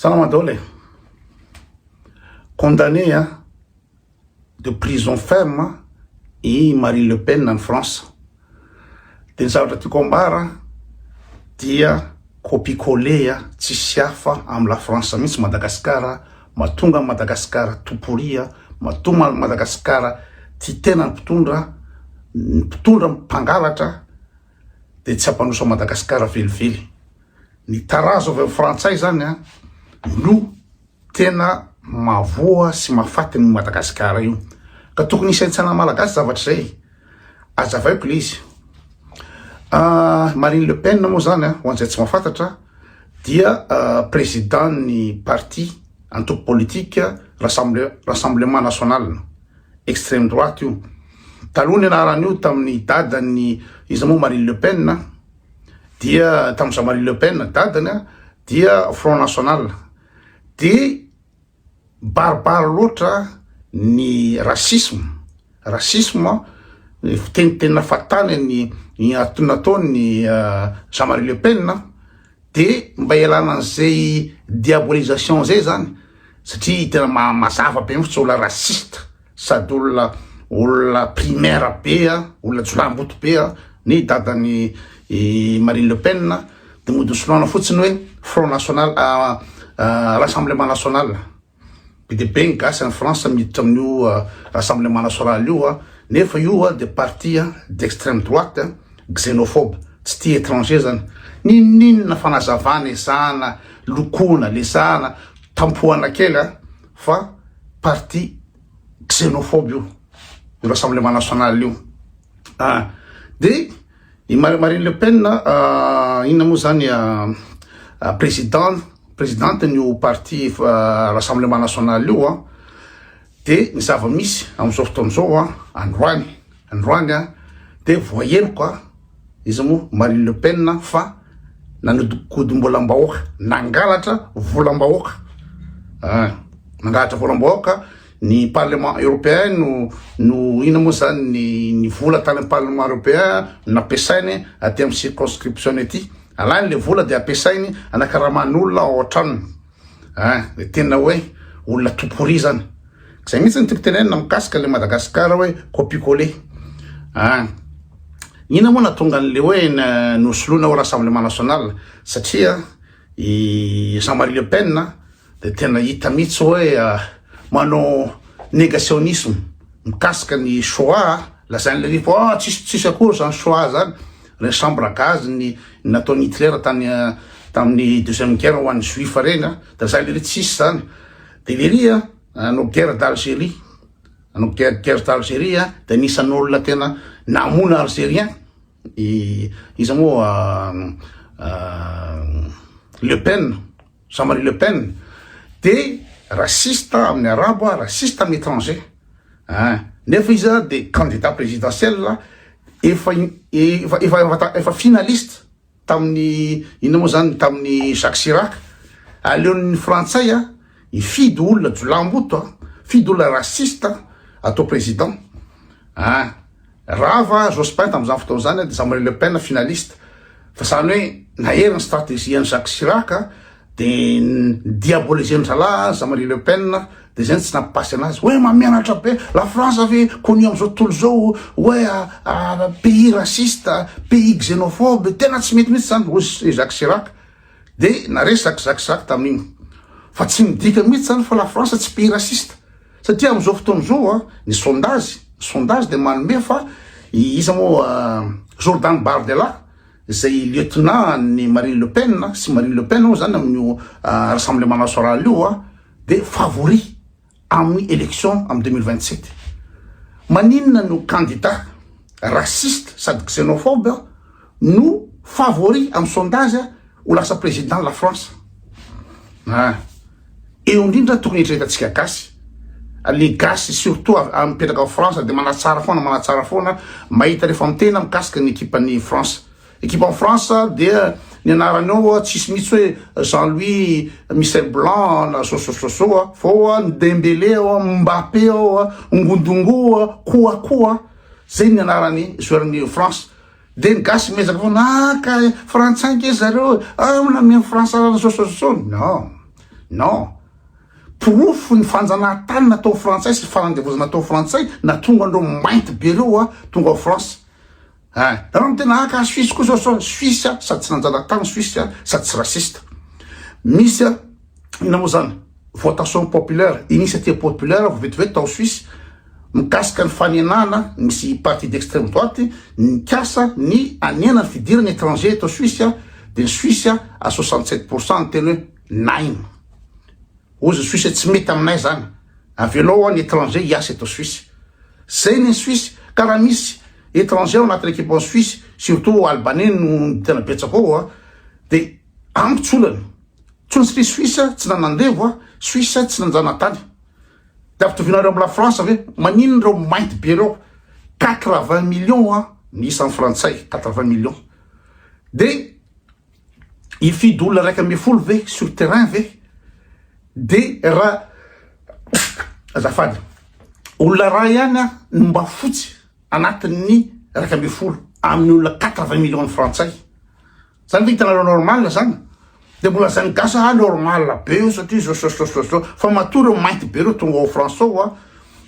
Salama daholo e! Condamné a de prison ferme i Marine Le Pen any France. De ny zavatra tiako ambara dia copie coller tsisy hafa am la France mihitsy Madagascar matonga an Madagascar tout pourri matonga an Madagascar tia tena ny mpitondra ny mpitondra mpangalatra dia tsy hampanosa Madagasikara velively. Ny tarazo avy amin'ny frantsay izany an, no tena mahavoa sy mahafaty an'io Madagasikara io. Ka tokony hisaintsaina Malagasy zavatra izay. Azavaiko ilay izy. Ah, Marine Le Pen moa izany an, ho an'izay tsy mahafantatra, dia ah, président ny parti antoko politique Rassemblement National. extreme droite io. Taloha ny anaran'io tamin'ny dadan'ny iza moa Marine Le Pen a, dia tamin'ny Jean Marie Le Pen dadany a, dia Front National. Dia barbare loatra ny racisme, racisme fiteniteny nafatany ny nataony Jean Marie Le Pen a. de mba ialana an'izay diabolisation zay zany satria tena mazava be mihitsy olona raciste sady olona olona primaire be a olona jolamboto be a ny dadan'i Marine Le Pen de modosoloana fotsiny hoe Front National Rassemblement National Be dia be ny gasy any France miditra amin'io rassemblement national io nefa io dia parti d'extreme droite xenophobe tsy tia étranger zany. Ninoninona fanazavana ezahana lokoana lesahana tampohana kely a fa parti xenophobe io io rassemblement national io a dia I Marine Le Pen, inona moa zany, président, présidente ny io parti Rassemblement National io an, dia ny zava-misy amin'izao fotoana izao an, androany, androany an, dia voaheloka izy moa Marine Le Pen fa nanodinkodim-bolam-bahoaka, nangalatra volam-bahoaka, nangalatra volam-bahoaka Ny parlement europeen no no ina moa zany ny ny vola tany am parlement europeen no nampiasainy aty am circonscription-ny aty. Alainy le vola de ampiasainy anakaramany olona ao an-tranony. A! le tena hoe olona toporia zany. Zay mihitsy ny tiako tenenina mikasika le Madagascar hoe copie coller. A! ina moa natonga an'le hoe nosoloina ho rassemblement national satria i Jean Marie Le Pen Dia tena hita mihitsy hoe manao negationisme mikasika ny Shoah a. Lazain'i Lévy fa ah tsisy tsisy akory izany Shoah izany, ireny chambre à gaz ny nataon'i Hitler tany tamin'ny deuxième guerre ho an'ny Juifs ireny a. Dia lazain'i Lévy tsisy izany. Dia Lévy a nanao guerre d'Algérie, nanao guerre guerre d'Algérie a, dia anisan'ny olona tena namono Algériens i iza moa Le Pen. Jean Marie Le Pen de raciste amin'ny arabo a, raciste amin'ny étranger a, nefa izy a de candidat présidentiel efa efa efa efa finaliste tamin'ny inona moa zany tamin'ny Jacques Chirac, aleon'ny frantsay a hifidy olona jolahimboto a, hifidy olona raciste atao président a. Rava Jospin tamin'izany fotoana izany dia Jean-Marie Le Pen finaliste. Fa izany hoe nahery ny stratégie an'i Jacques Chirac dia diaboliser-n'ny zalahy Jean-Marie Le Pen dia izay no tsy nampipasy anazy. Hoe mamianatra be, la France ve connu amin'izao tontolo izao hoe pays raciste, pays xénophobe, tena tsy mety mihitsy izany hoy i Jacques Chirac. Dia naresaka Jacques Chirac tamin'iny. Fa tsy midika mihitsy izany fa la France tsy pays raciste. Satria amin'izao fotoana izao ny sondage, ny sondage dia manome fa iza moa Jordan Bardella izay lieutenant an'ny Marine Le Pen sy Marine Le Pen moa izany amin'io Rassemblement National io dia favori amin'ny élection amin'ny 2027. Maninona no candidat raciste sady xénophobe no favori amin'ny sondage ho lasa président la France? Ah. Eo indrindra ny tokony eritreretantsika gasy, les gasy surtout mipetraka ao France dia manatsara foana manatsara foana mahita rehefa mitena mikasika ny ekipan'ny France. Ekipan'ny France dia ny anarany ao tsisy mihitsy hoe Jean Louis Michel Blanc na zao zao zao zao fa ao ny Dembélé ao Mbappé ao Ngondongo Kouakou zay ny anarany joueur-n'ny France. Dia ny gasy miezaka foana ah ka frantsay nge zareo ah mbola mihaino frantsarana sososo non non porofo ny fanjanahantany natao frantsay sy fanandevozana atao frantsay natonga andreo mainty be reo ah tonga ao france ah nareo no tena ah ka suisse koa sososo suisse ah sady tsy nanjanahantany suisse ah sady tsy raciste misy ah ina moa zany Votation populaire, initiative populaire vao vetivety tao Suisse mikasika ny fanenana misy parti d'extreme droite nikasa ny hanena ny fidirana étranger eto Suisse dia ny Suisse à soixante sept pour cent niteny hoe naim. Hozy ny Suisse tsy mety aminay zany, avelao an ny étranger hiasa eto Suisse. Zay ny Suisse ka raha misy étranger ao anatin'ny équipement Suisse surtout Albanais no tena betsaka ao dia amiko tsy olana. Tsontsy ry Suisse tsy nanandevo a! Suisse tsy nanjanatany! De ampitovianareo am la France ve? Maninona reo mainty be reo? Quatre vingt millions a ny isan'ny frantsay, quatre vingt millions! De hifidy olona raika ambin'ny folo ve sur terrain ve? De ra azafady olona ray ihany a no mba fotsy anatin'ny raika ambin'ny folo amin'ny olona quatre vingt millions ny frantsay! Zany ve hitanareo normal zany? Dia mbola lazain'ny gasy ah normal be io satria zao zao zao zao zao fa matoa ireo mainty be ireo tonga ao France ao a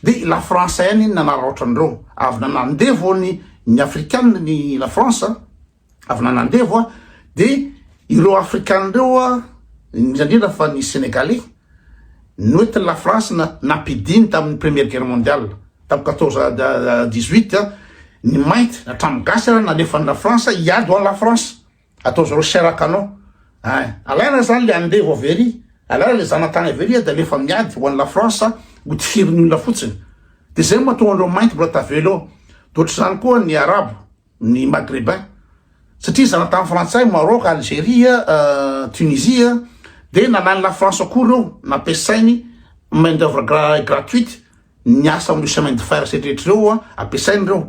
dia i la France ihany iny nanaraotra an'ireo avy nanandevo ny ny afrikana ny la France a avy nanandevo a dia ireo afrikana ireo a indrindra indrindra fa ny sénégalais Noty ny Lafrantsa na nampidiny tamin'ny Première Guerre Mondiale, tamin'ny quatorze dix huit, ny mainty hatramin'ny gasy ary nalefan'ny Lafrantsa hiady ho an'i Lafrantsa. Atao zareo chair à canon. Ay, alaina izany ilay andevo avy ery, alaina ilay zanatany avy ery dia alefa miady ho an'i Lafrantsa ho tifirin'ny olona fotsiny. Dia izay no mahatonga an'ireo mainty mbola tavela eo. Dia ohatr'izany koa ny Arabo. ny Maghrébins satria zanatany frantsay, Maroc, Algeria, Tunisie dia nalainy la France ao koa ireo nampiasainy main d'oeuvre gratuite ny asa amin'ireo chemin de fer setrehitra ireo ampiasainy ireo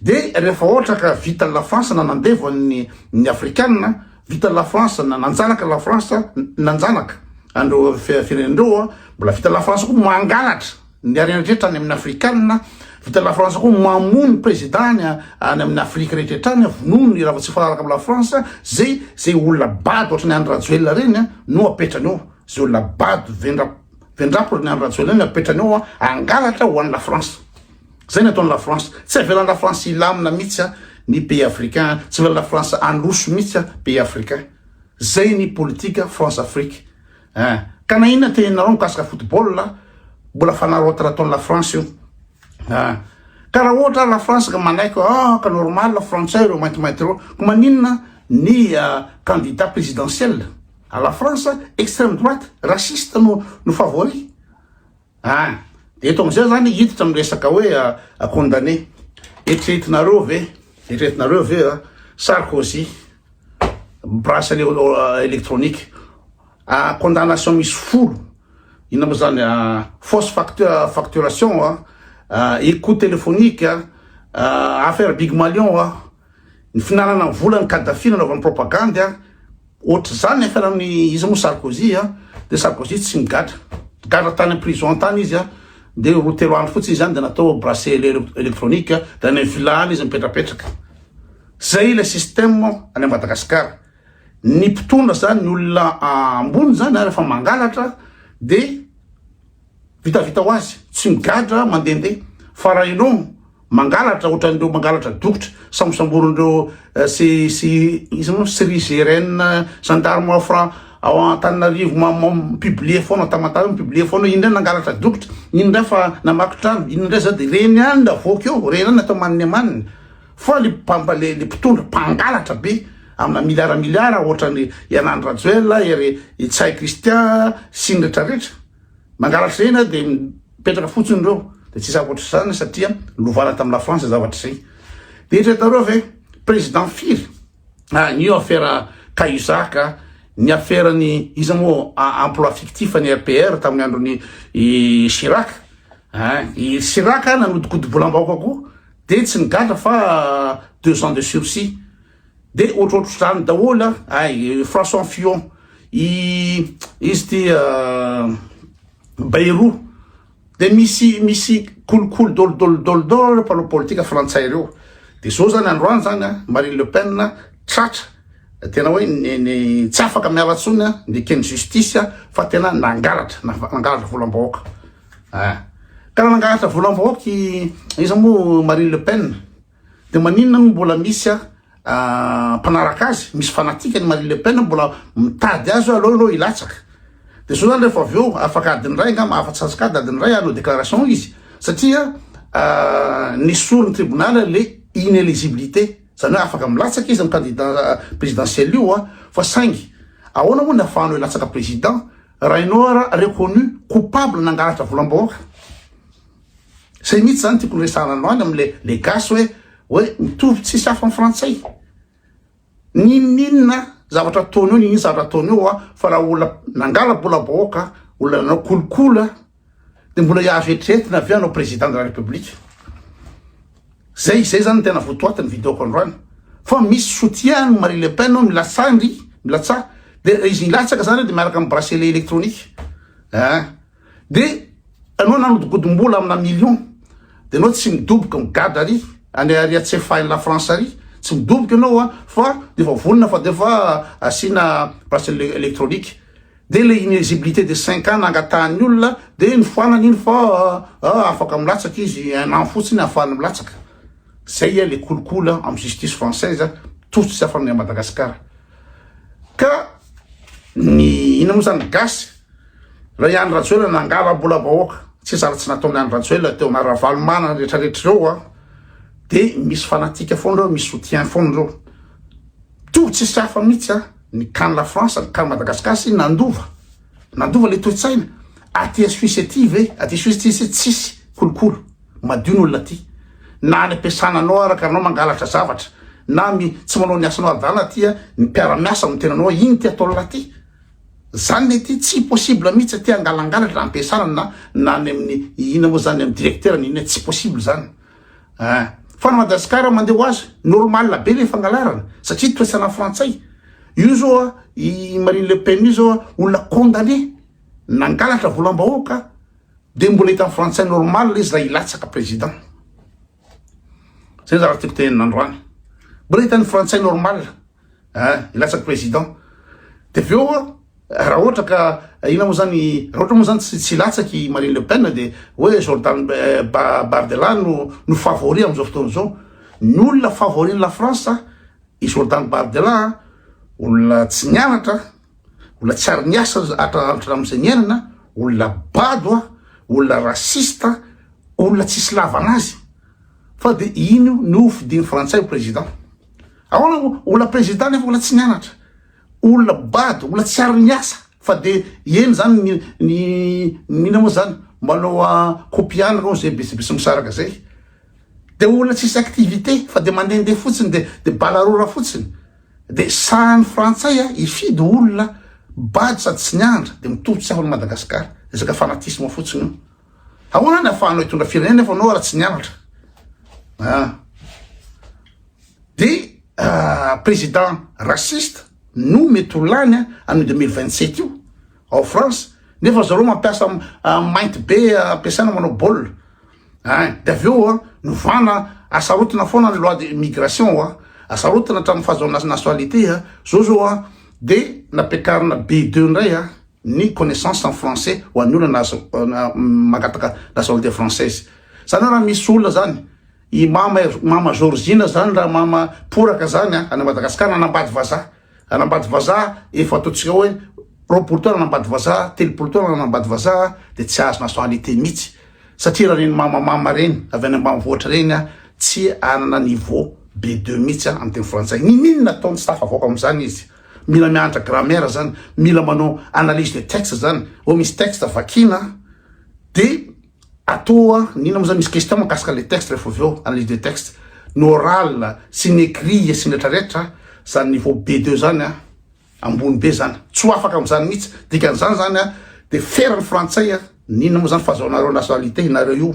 dia rehefa ohatra ka vita la France na nandevo an'ny ny afrikanina vita la France na nanjanaka la France nanjanaka an'ireo firenena ireo mbola vita la France koa mangalatra Ny harena rehetra any amin'ny afrikanina vita ny lafrantsa koa mamono ny prezidany any amin'ny afrika rehetra rehetra any vonono ny raha vao tsy mifanaraka amin'ny lafrantsa zay zay olona bado ohatry ny andry rajoelina reny a no apetrany eo zay olona bado vendra vendrapy ny andry rajoelina reny apetrany eo a angalatra ho an'ny lafrantsa zay ny ataon'ny lafrantsa tsy avelan'ny lafrantsa hilamina mihitsy a ny pays africain tsy avelan'ny lafrantsa androso mihitsy a pays africain zay ny politika france afrique Eh! Ka na inona teninareo mikasika football mbola fanaraoty raha ataon'i la France io. Eh! Ka raha ohatra ary la France ka manaiky hoe ah ka normal frantsay ireo maintimainty ireo, ko maninona ny candidat presidentiel à la France extreme droite raciste no no favori? Any. Dia eto amin'izay izany hiditra amin'ny resaka hoe condamné. Eritreretinareo ve, eritreretinareo ve Sarkozy bracelet électronique, condamnation misy folo, inona moa izany, fausse facturation, écoute téléphonique, affaire Big Malion, ny finanana ny volan'ny Kadhafi nanaovany propagandy, Ohatr'izany ny afiarany ny izy moa Sarkozy a, dia Sarkozy tsy migadra, gadra tany prison tany izy a, dia roa telo andro fotsiny izany dia natao bracelet electronique dia any vilany izy mipetrapetraka, zay ilay système any Madagascar, ny mpitondra zany ny olona ambony zany a rehefa mangalatra dia. Vitavita ho azy, tsy migadra mandehandeha, fa raha ianao mangalatra ohatran'ireo mangalatra dokotra sambosamborin'ireo sy sy iza moa CRIGN, gendarme ao Fran ao Antananarivo ma- ma- mi-publier foana Tamatave mi-publier foana iny indray nangalatra dokotra, iny indray fa namaky trano, iny indray zao dia ireny ihany no avoaka eo, ireny ihany no atao maniny amaniny fa le mpamba- le le mpitondra mpangalatra be amina miliara miliara ohatran'i Henan Rajoel, ery Ntsay Christian sy ny rehetrarehetra. Mangarafena dia mipetraka fotsiny ireo dia tsisy ankoatr'izany satria lovana tamin'i la France zavatra izay. Dia eritreretareo ve président firy ah ny io afera Cahuzac ah, ny aferan'ny iza moa emploi fictif an'i RPR tamin'ny andron'i Chirac ah, i Chirac nanodikodim-bolam-bahoaka koa dia tsy nigadra fa deux ans de sursis. De ohatrohatr'izany daholo a, ay François Fillon, i izy ity Bayrou, de misy misy kolikoly dôlidôly dôlidôly ireo mpanao politika frantsay ireo, de zao zany androany zany a Marine Le Pen tratra, tena hoe tsy afaka miala tsony a, nekeny justice a, fa tena nangalatra, nangalatra volam-bahoaka, ah ka nangalatra volam-bahoaka i iza moa Marine Le Pen. De maninona no mbola misy a mpanaraka azy, misy fanatique ny Marine Le Pen mbola mitady azy hoe aleo aloha hilatsaka. De zao zany rehefa avy eo afaka adiny iray angamba afa-tsy antsokadina adiny iray hanao déclaration izy satria nesorin'ny tribunal le inéligibilité, zany hoe afaka milatsaka izy amin'ny candidat présidentiel io a fa saingy ahoana moa ny afahanao hilatsaka président raha ianao ara reconnu coupable nangalatra volam-bahoaka. Zay mihitsy zany tiako noresahana androany amle le gasy hoe hoe mitovy tsisy hafa am frantsay. Ninoninona zavatra ataony eo ninoninona zavatra ataony eo a fa raha olona nangala bola bahoaka olona nanao kolikoly a de mbola hiavy eritreretina avy eo hanao président de la république. Zay zay zany tena votoatiny vidéoko androany fa misy soutien an'i Marie Le Pen ao milatsaha ndry milatsaha de izy milatsaka zany de miaraka am bracelet électronique ein. de anao nanodikodimbola amina million de anao tsy midoboka migadra ary any ary atsefahin'ny la France ary tsy midoboka ianao a fa de efa vonona fa de efa asiana bracelet électronique de le inuisibilité de cinq ans nangatahan'ny olona de nifoanana iny fa afaka milatsaka izy un an fotsiny ahafahany milatsaka zay a le kolikoly a amin'ny justice française a tojo tsy afa-ny Madagasikara ka ny ina moa zany gasy Ilay Andry Rajoelina nangalam-bola vahoaka, tsy zary tsy nataon'i Andry Rajoelina teo na Ravalomanana retraretra ireo a, dia misy fanatika foana ireo, misy soutien foana ireo. Toa tsisy hafa mihitsy a, ny can la France, ny can Madagascar sy nandova, nandova ilay toe-tsaina. Aty Suisse aty ve, aty Suisse aty se tsisy kolokolo, madio ny olona aty. Na any am-piasana anao ara ka anao mangalatra zavatra, na mi, tsy manao ny asanao adala aty a, ny mpiara-miasa no tena anao, iny ty ataon'la aty. Zany le ty tsy possible mitsy aty hangalangalatra hampiasana na na any aminy ina moa zany amy directeur na ina tsy possible zany ah fa ny Madagascar mandeha ho azy normal be le fangalarana satria toesana frantsay io zao ah i Marine le Pen io zao ah olona condamne nangalatra volam bahoaka de mbola hitan'ny frantsay normal izy raha hilatsaka président zay zavatra tiako tenenina androany mbola hitan'ny frantsay normal eh hilatsaka président de avy eo raha ohatra ka ina moa zany raha ohatra moa zany tsy tsy hilatsaka i Marine Le Pen dia hoe Jordan Bardella no no favori amin'izao fotoana izao ny olona favori ny la France i Jordan Bardella olona tsy nianatra olona tsy ary niasa hatramin'izay niainana olona bado a olona raciste olona tsisy lavana azy fa dia iny io no fidiny frantsay ho président Ahoana moa? Olona prezida nefa olona tsy nianatra, olona bado, olona tsy ary niasa fa dia eny zany ny ny inona moa zany manao kopy ihany ireo zay besibesy misaraka zay dia olona tsisy activité fa dia mandehandeha fotsiny dia dia balarora fotsiny dia sahan'ny frantsay a hifidy olona bado sady tsy nianatra dia mitovy tsy ahoan'i Madagasikara, resaka fanatisme fotsiny io. Ahoana ny afahanao hitondra firenena nefa anao raha tsy nianatra ah. Dia ah, président raciste no mety ho lany ah, an'io 2027 io ao France nefa zareo mampiasa ah, mainty be ah, ampiasaina manao baolina ah, dia avy eo ah, novana asarotina foana ny loi de migration ah, asarotina hatramin'ny fahazoana nationalité ah, zao zao ah, dia nampiakarina B2 indray ah. ny connaissance en français ho an'ny olona na azo mangataka nationalité française zany raha misy olona zany i mama er, mama Georgina zany raha mama poraka zany a any Madagascar nanambady vazaha anambady vazaha efa ataontsika hoe roapolo taona anambady vazaha telopolo taona anambady vazaha de tsy azo nationalité mihitsy satria raha reny mama mama reny avy any ambanivohitra reny a tsy anana niveau B2 mihitsy a amin'ny teny frantsay ny minina ataony tsy tafavoaka amin'izany izy Mila mianatra grammaire zany, mila manao analyse de texte zany, oh misy texte vakina de atoa ny inona moa zany misy question makasika le texte rehefa avy eo analyse de texte, ny oral sy ny écrit sy ny retraretra zany niveau B deux zany a ambony be zany, tsy ho afaka amzany mihitsy, dikan'izany zany a de feran'ny frantsay a. N'inona moa zany fazaonareo nationalité inareo io?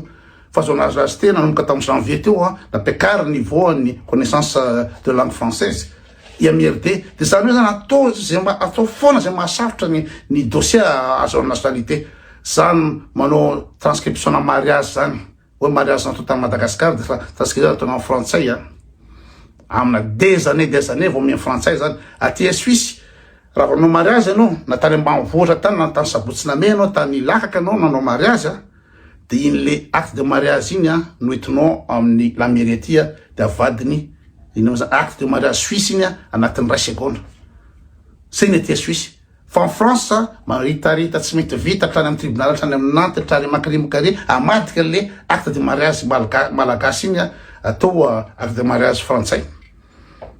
Fazaonareo azy teo nanomboka tam janvier teo an, nampiakary niveau an'ny connaissance de langue française i MIRD de zany hoe zany atao ze mba atao foana ze mahasarotra ny ny dossier ahazoana nationalité zany manao transcription-na mariage zany. Oe mariage sans tout en Madagascar de fa transcrire ataonao am frantsay a. Amina des années des années vao mihaino frantsay zany. Aty Suisse raha vao nanao mariage anao na tany ambanivohitra tany na tany Sabotsinamehy anao tany Ilahaka anao nanao mariage a de iny le acte de mariage iny a no entinao aminy la mairie aty a de avadiny iny amizany acte de mariage Suisse iny a anatin ray segondra. Zay ny aty Suisse. Fa en France maritarita tsy mety vita hatrany am tribunal hatrany am nanty hatrany am akrimka re amadika le acte de mariage malagasy iny atao acte de mariage frantsay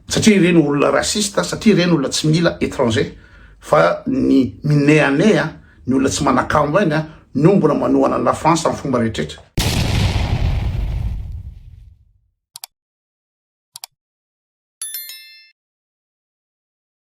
satria ireny olona raciste satria ireny olona tsy mila etranger fa ny mineane a ny olona tsy manakambo ainy a no mbola manohana ny la France am fomba rehetrretra.